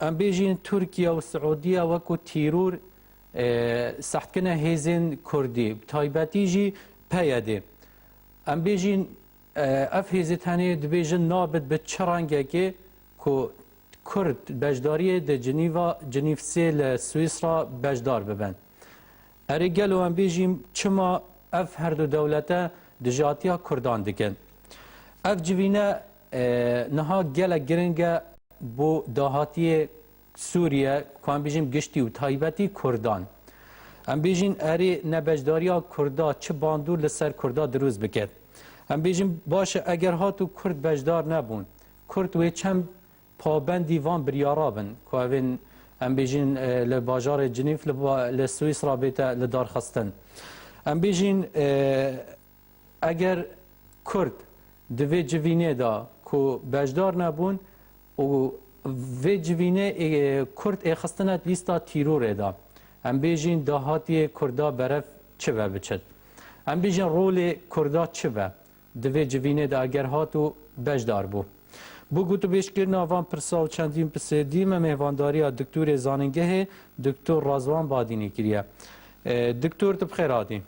Em bêjin Tirkiye û Siûdiye weko tîror sehtkirina hêzên Kurdî bi taybetî jî PYD. Em bêjin ev hêzê tenê dibêjin nabit bi çi rengekê ku Kurd beşdariyê di Cinîva Cinîvsê li Swîsra beşdar bibin. Erê gelo em bêjîm çima ev herdu dewlete dijatiya Kurdan dikin. Ev civîne Niha gelek giring e bo dahatiyê Sûriye ku em bêjin giştî û taybetî Kurdan. Em bêjin erê ne beşdariya Kurda çi bandor li ser Kurda dirûst biket. Em bêjin baş e eger hatû Kurd beşdar nebûn, Kurd wê çem pabendî van biryara bin ku ev ên em bêjin li bajarê Cinîf li Swîsra bête lidarxistin. Em bêjin Eger Kurd di vê civînê de ku beşdar nebûn û vê civînê Kurd ê xistine lîsta tîrorê de, em bêjîn dahatiyê Kurda berev çi ve biçit? Em bêjin rolê Kurda çi be di vê civînê de eger hat û beşdar bû? Bo gotûbêjkirina van pirsa û çendîn pisê dî me mêvandariya Diktorê Zanîngehê Diktor Rezvan Badînî kiriye. Diktor tu bi xêr hatî.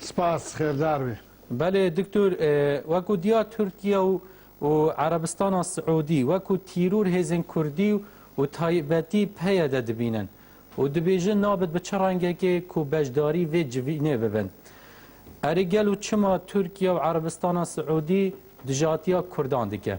Spas, xêrdar bî. Belê diktor wekû diya Tirkiye û û Erebistana Siûdî wekû tîrûr hêzên Kurdî û taybetî PYD dibînin û dibêjin nabit bi çi rengekê ku beşdarî vê civînê bibin. Erê gelo çima Tirkiye û Erebistana Siûdî dijatiya Kurdan dike?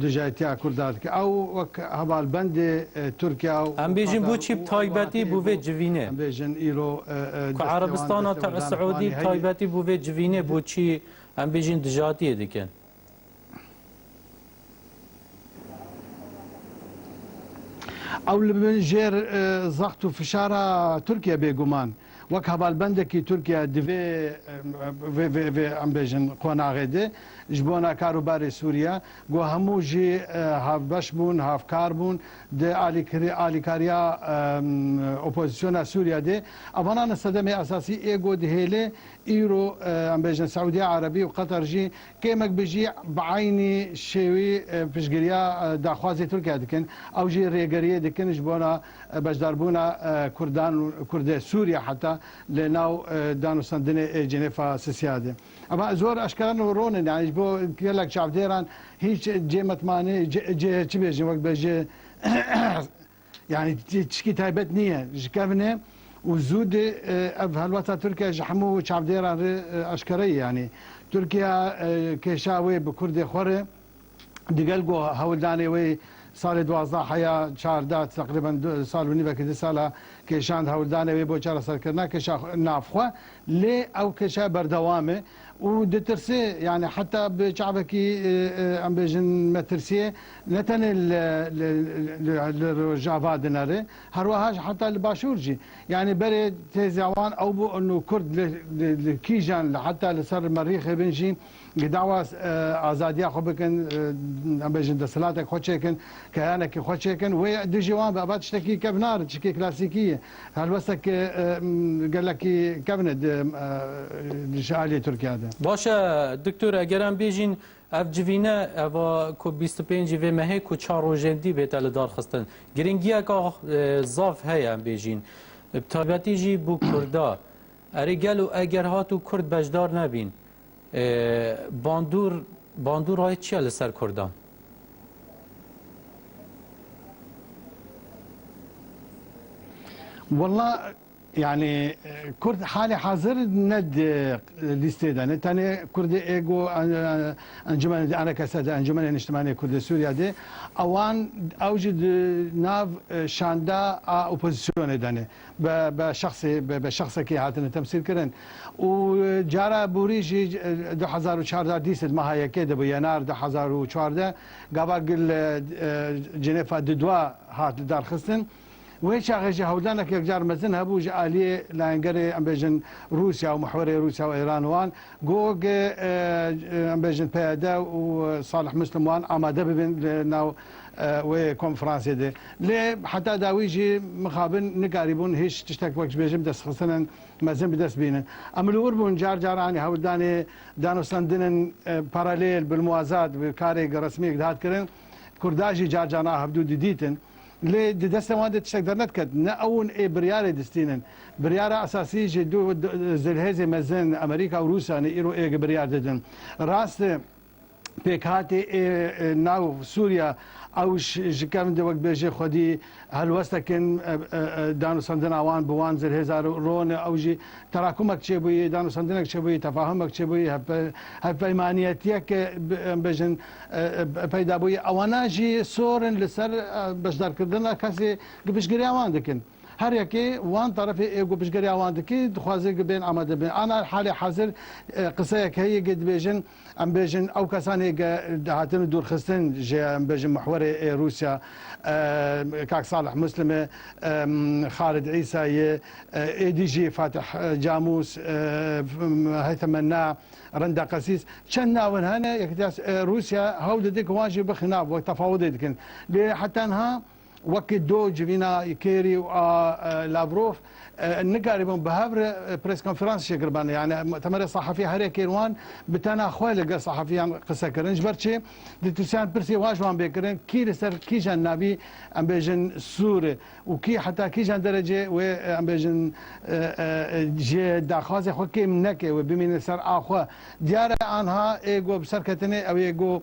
Dijayetiya Kurda dike. Ew wek hevalbendê Tirkiya û Em bêjin Katar boçî û ew taybetî welatê bû vê civînê. Em bêjin îro Ku Erebistana Siûdî taybetî bû vê civînê boçî em bêjin dijatiyê dikin. Ew li bin jêr zext û fişara Tirkiye bêguman. wek hevalbendekî Tirkiye di vê vê vê vê em bêjin qonaxê de ji bona kar û barê Sûriye ku hemû jî hevbeş bûn, hevkar bûn di alîkirî alîkariya opozîsyona Sûriye de. Evanan e sedemê esasî ê ku dihêle îro em bêjin Siûdiya Erebî û Qetar jî kêmek bi jî bi eynî şêwî piştgiriya daxwazê Tirkiye dikin ew jî rêgeriyê dikin ji bona Beşdarbûna Kurdan û Kurdê Sûriye heta li nav danûstandinê ê Cenefa Sisiyadê. Ev zor eşkera newron in yanî ji bo gelek çavdêran hîç cê mitmanê cê çi bêjin wek be ji yanî tişkî taybet nîye ji kevnê û zûdê ev helweta Tirkiye ji hemû çavdêran re eşkere ye yanî Tirkiye kêşa wê bi Kurdê xwe re Digel ku hewldanê wê salê duwazdeh heya çardeh teqrîben du sal û nîv vekî di sal e kêşand hewldanê wê bo çareserkirina kêşa navxwe lê ew kêşa berdewam e û ditirse yanî heta bi çavekî em bêjin metirsiyê ne tenê li rojava dinere herweha jî heta li başûr jî yanî berê têzya wan ew bû û kurd li kîjan li heta li ser merîxê bin jî Ku dawa azadiya xwe bikin, em bêjin desthilatek xwe çêkin, keyanekî xwe çêkin, wê dijî wan be. Eva tiştekî kevnar e, tiştekî klasîkî ye. Helwestek gelekî kevn e ji aliyê Tirkiya de. Baş e Diktor, eger em bêjîn ev civîne eva ku bîst û pêncî vê mehê ku çar rojên dî bête lidarxistin, girîngiyeka zaf heye em bêjîn. Bi taybetî jî bo kurda. Erê gelo eger hatû kurd beşdar nebîn, Bandûr, bandûr rayê çi ye li ser kurdan? Walla yani Kurd hali hazır ne listê de ne tenê Kurdê ego encumene anekese de encumene niştimanê Kurdê Sûriya de ewan ew jî di nav şanda a opozisyonê de ne. Be be şexsî be be şexsekî hatine temsîlkirin û cara borî jî du hezar û çardeh dîsê di meha yekê de bû yenar du hezar û çardeh gava gil cinêfa didwa hat lidarxistin. Wê çaxê jî hewldanek yekcar mezin hebû ji aliyê layengerê em bêjin Rûsya û mihwerê Rûsya û Îran wan ku em bêjin PYD û Salih Muslim wan amade bibin li nav wê konferansê de. Lê heta dawî jî mixabin nikarîbûn hîç tiştek wek ji bê jin bidestxistinên mezin bi dest bînin. Em li wir bûn car car anî hewldanê danûstandinên paralêl, bilmuwazat bi karek resmiyek dihat kirin. Kurda jî car car a hevdû didîtin. Lê di destên wan de tiştek dernediket. Ne ew in ê biryarê distînin. Biryara esasî ji du zilhêzê mezin Amerîka û Rûsya ne îro ê gi biryar didin. Rast e. pêkhatê ê nav Sûriya ew ji kevn de wek bêjê xwedî helwestekin danûstandina wan bi wan zirhêza ron e ew jî terakumek çêbûyî danûstandinek çêbûyî tefahumek çêbûyî hevpeymaniyetiyek em bêjin peyda bûyî ewana jî sor in li ser beşdarkirina kesê piştgiriya wan dikin. Her yekê wan terefê ê ku piştgiriya wan dike dixwaze ku bên amade bin. Ana li halê hezir qiseyek heye ku dibêjin em bêjin ew kesanê ku dihatin dûrxistin ji ya em bêjin mihwerê ê Rûsya kak Salih Muslim e, Xalid Îsa ye, êdî jî Fatih Camûs, Heytham Menna, Renda Qesîs çend nav in hene. Yekîtiya Rûsya hewl dide ku wan jî bixin nav wek tefawudê dikin. Lê heta niha Wek do civîna Kêrî û a Lavrov nikarîbûn bi hev re preskonferans şekil bane. Yanî muhtemele sehafî herê kêr wan bi tena xwe li gel sehafîyan qise kirin. Ji ber çi? Dîtirsiyan pirsê wan ji wan bê kirin, kî li ser kîjan navî em bêjin sûr e û kî heta kîjan derecê wê em bêjin ji daxwazê xwe kêm neke wê bimîne ser a xwe. Diyar e anha ê ku bi ser ketine ew ê ku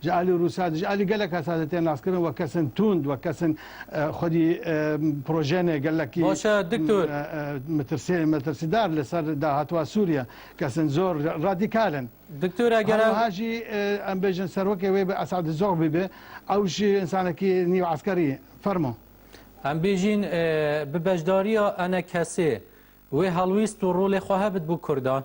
ji alî Rûsya ji alî gelek hesatê tên naskirin wek kesin tûnd wek kesin xwedî projenê gelekî metirsîdar li ser dahatuva Sûriye kesin zor radîkal in. Diktor eger ew jî em bêjin serwekê wê bi Esad Zogbî be ew jî insanekî nîv eskerî ye. Fermo. Em bêjîn bi beşdariya enekesê wê helwîst û rolê xwe hebit bo kurdan.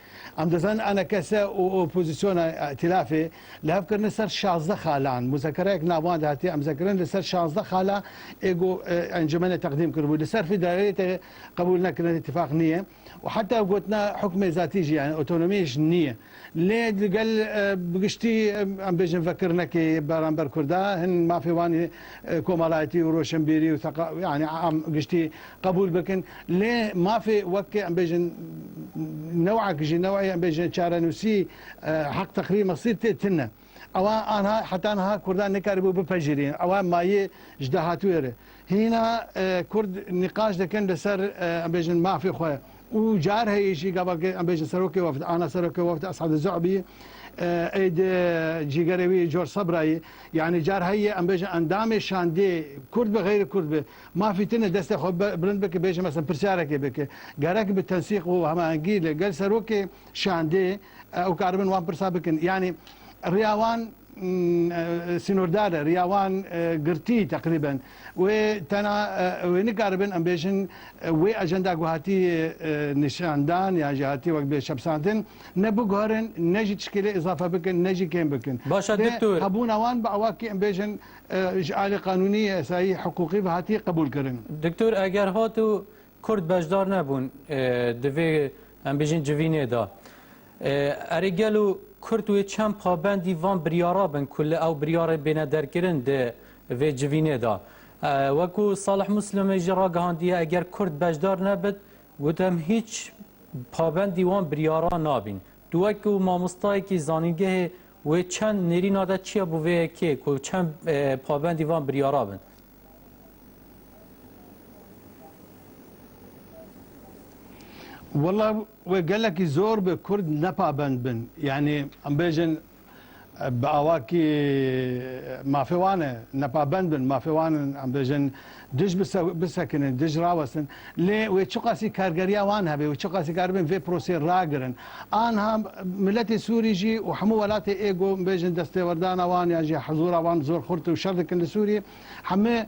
Em dizin ANKS û opozîsyona îtîlafê li hev kirine ser şazdeh xalan. Muzakerayek navan de hatiye emzekirin li ser şazdeh xala ê ku encûmenê teqdîm kiribû. Li ser vî dayîreyê tê qebûl nekirin îtîfaq nîye û heta gotina hukmê zatî jî yanî otonomiyê jî nîye. Lê di gel bi giştî em bêjin vekirinekê yê beramber kurda hin mafê wan komalaitî û roşenbîrî û seqa yanî am giştî qebûl bikin lê mafê wek em bêjin newek ji neweyê em bêjin çarenûsî heq teqrîr mesîr tê tune ewa anha heta niha kurdan nikaribû bipejirîn ewa mayê ji dahatûyê re hîna kurd nîqaş dikin li ser em bêjin mafê xwe û car heye jî gava ke em bêjin serokê wefd ana serokê wefd Esad Zu'bî êd cîgerê wî George Sabrayî yanî car heye em bêjin endamê şandê kurd bi xeyrê kurd bi Mafî tune destê xwe bilind bike bêje mesela pirsiyarekê bike. Gerek bi tensîq û hemahengî li gel serokê şandê ew karibin wan pirsa bikin. Yanî riya wan sînordar e, riya wan girtî teqrîben. Wê tena wê nikaribin em bêjin wê ajenda ku hatî nîşandan yan jî hatî wek bê çepsandin ne biguherin ne jî tişkîlê îzafe bikin ne jî kêm bikin. Baş e Diktor. Hebûna wan bi ewakî em bêjin Ji alî qanûnî, yasayî, hiqûqî ve hatiye qebûlkirin. Doktor eger hat û Kurd beşdar nebûn di vê em bêjin civînê de, erê gelo Kurd wê çend pabendî van biryara bin ku li ew biryarê bêne derkirin di vê civînê de. Wekû Salih Muslimê jî ragihandiye eger Kurd beşdar nebit, got em hîç pabendî wan biryara nabîn. Tu wekî mamostayekî zanîngehê wê çend nêrîna de çiya bû vê yekê ku çend pabendî van biryara bin? Wela we gelekî zor bi Kurd nepabend bin. Yanî em bêjin Bi awakî mafê wan e nepabend bin, mafê wan in em bêjin dij bisekinin, dij rawestin. Lê wê çiqasî kargeriya wan hebe, wê çiqasî karibin vê prosê ragirin. Anha miletê Sûrî jî û hemû welatê êgo em bêjin destêwerdana wan yan jî hizûra wan zor xurt û şer dikin li Sûrî. Heme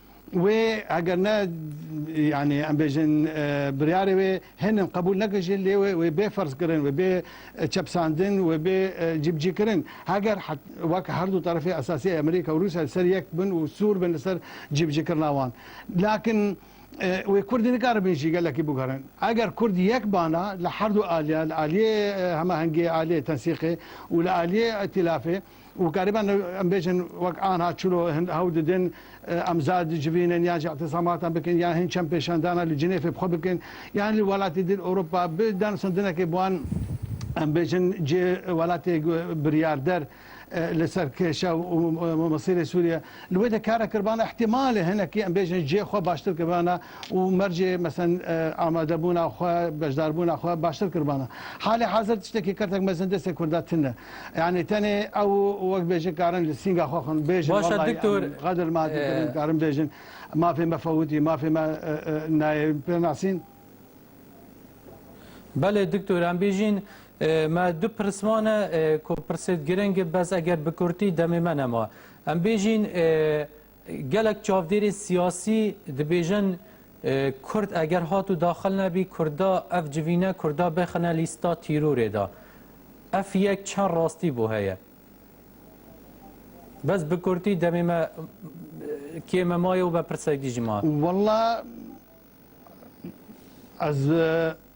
Wê eger ne yanî em bêjin biryarê wê hênin qebûl nekin jî lê wê wê bê ferzkirin, wê bê çepsandin, wê bê cîbicîkirin. Heger wek her du terefê esasî Amerîka û Rûsya li ser yek bin û sûr bin li ser cîbicîkirina wan. Lakin wê Kurdî nikaribin jî gelekî biguherin. Eger Kurd yek bana li her du aliyan, li aliyê hemahengiyê, aliyê tensîqê û li aliyê îtîlafê, û gariban em bêjin wek anha çilo hin hewl didin em zar dicivînin yan jî îtîsamatan bikin yan hin çem pêşandana li Cinêfê bi xwe bikin yan li welatî din Ewropa bi danûstandinekê bi wan em bêjin cê welatê biryarder li ser kêşa û mesîrê Sûriye li wê de kare kiribana îhtîmalê hinekî em bêjin cê xwe baştir kiribana û mercê mesen amadebûna xwe beşdarbûna xwe baştir kiribana. Halê hezir tiştekî kertek mezin destê Kurda tune. Yanî tenê ew wek bêjin karin li sînga xwe xwin bêjin Baş e wellahî em diktor. qedir madî kirin karin bêjin mafê me fewitî mafê me e, e, nayê pê nasîn. Belê diktor em bêjîn e, me du pirs mane e, ku pirsê giring e bes eger bi kurtî demê me nema. Em bêjîn e, Gelek çavdêrên siyasî dibêjin Kurd eger hat û daxil nebî Kurda ev civîne Kurda bixine lîsta tîrorê de. Ev yek çend rastî bo heye. Bes bi kurtî demê me kê me maye û me pirsek dî ji ma. Walla ez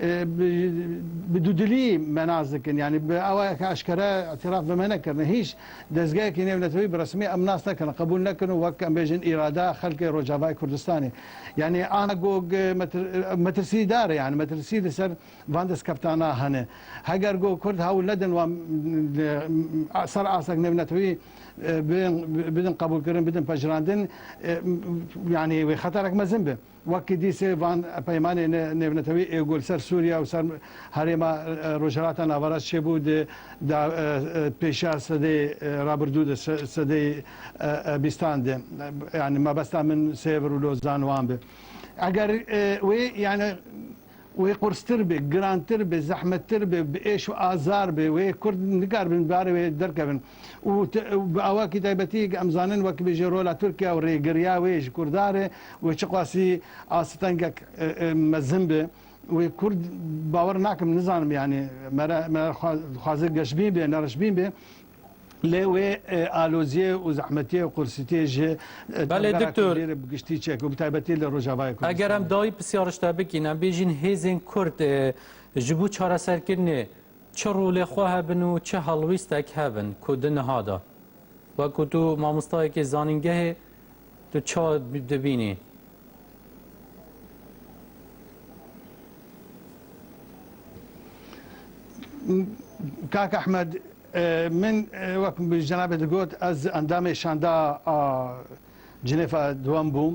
bi dûdilî me nas dikin yanî bi awe ke eşkere îtîraf bi me nekirine hîç dezgehekî nêwnetewî bi resmî em nas nekirine qebûl nekirine û wek em bêjin îrada xelkê Rojavayê Kurdistanê yanî ana gog metirsîdar e yanî metirsî li ser van destkeftana hene heger gog Kurd hewil nedin wan ser astek nêwnetewî bidin qebûlkirin bidin pejirandin yanî wê xeterek mezin be. Wekî dîsê van peymanê nêvnetewî êgo li ser Sûriye û ser herêma Rojhilata Navaraş çêbû di pêşiya sedeyê rabirdû de, sedeyê bîstan de. Yanî mebesta min Sêvr û Lozan wan bi. Eger wê yanî Wê qurstir be, girantir be, zehmettir be, bi êş û azar be, wê Kurd nikaribin bi barê wê derkevin û bi awakî taybetî em zanin wek bêje rola Tirkiye û rêgiriya wê ji Kurdan re wê çiqasî asitengek mezin be wê Kurd bawer nakim nizanim yanî me re me re dixwaze geşbîn be, nereşbîn be. Lê wê aloziyê û zehmetiyê û qursîtiyê ji tevgera Kurdî re bi giştî çek û bi taybetî li Rojavayê Kurdistanê. Eger em dawî pisyar ji te bikin, em bêjîn hêzên Kurd ji bo çareserkirinê çi rolê xwe hebin û çi helwîstek hebin ku di niha de wekû tu mamostayekê zanîngehê tu ça dibînî? Kak Ehmed Min wek bi cenabê digot ez endamê şanda a Cinêfa Duwem bûm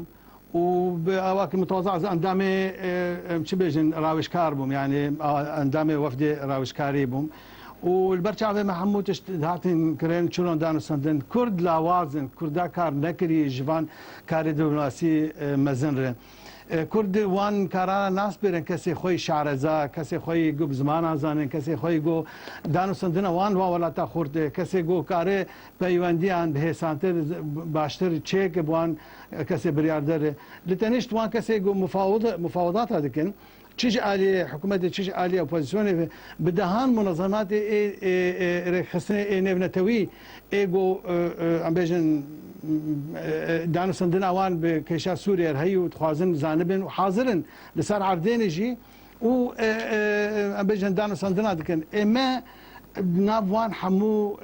û bi awakî mutawaza ez endamê em çi bêjin rawişkar bûm yanî endamê wefdê rawişkarî bûm û li ber çavê me hemû tişt dihatin kirin çiron danûstandin. Kurd lawaz in, Kurda kar nekirî ji van karê dîplomasiy mezin re. Kurd wan karana nas bêrin kesê xwe yê şareza, kesê xwe yê ku bi zimanan zanên, kesê xwe yê ku danûstandina wan li wan welata xurt e, kesê ku kare peywendiyan bi hêsantir, baştir çêke bi wan kesê biryarder e. Li tenişt wan kesê ku mufawidata dikin, Çi ji aliyê hikûmetê çi ji aliyê opozîsyonê ve bi dehan munezematê ê rêkxistinê ê nêvnetewî ê ku em bêjin danûstandina wan bi kêşa Sûriyê re heye û dixwazin zanibin û hazir in li ser erdênê jî û em bêjin danûstandina dikin ê me di nav wan hemû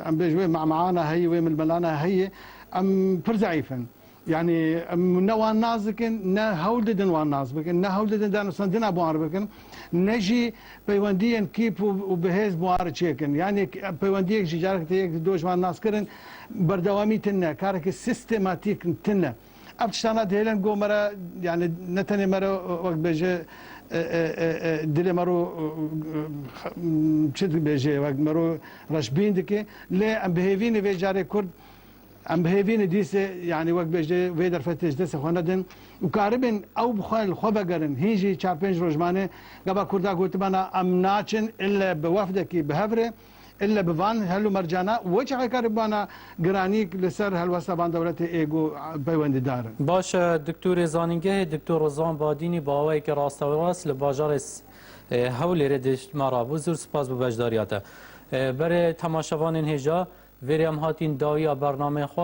em bêjin wê mehmehan a heye wê milmelan a heye em pir zeîf in. Yanî em ne wan nas dikin, ne hewl didin wan nas bikin, ne hewl didin danûstandina bi wan re bikin, ne jî peywendiyên kîp û bihêz bi wan re çêkin. Yanî peywendiyek jî careke tê yek doj van nas kirin berdewamî tine, karekî sîstematîk tine. Ev tiştan a dihêlin go me re yanî ne tenê me re wek dibêje dilê me ro çi dibêje wek me ro reşbîn dike lê em bi hêvînê vê carê kurd Em bi hêvînê dîsê yanî wek bêjê vê derfetê ji destê xwe nedin û karibin ew bi xwe li xwe vegerin. Hîn jî çar pênc roj mane gava Kurda gotibana em naçin ille bi wefdekî bi hev rê ille bi van hel û mercana û weçî qey karibana giranîk li ser helwesta van dewletê ê got peywendîdar in. Baş e, Diktorê Zanîngehê Diktor Rizwan Badînî bi awayekî rastewerast li bajarê Hewlêrê di ma rabû zûr spas bi beşdariya te. Berê temaşevanên hêja vêrê em hatîn dawiya bernameyê xwe.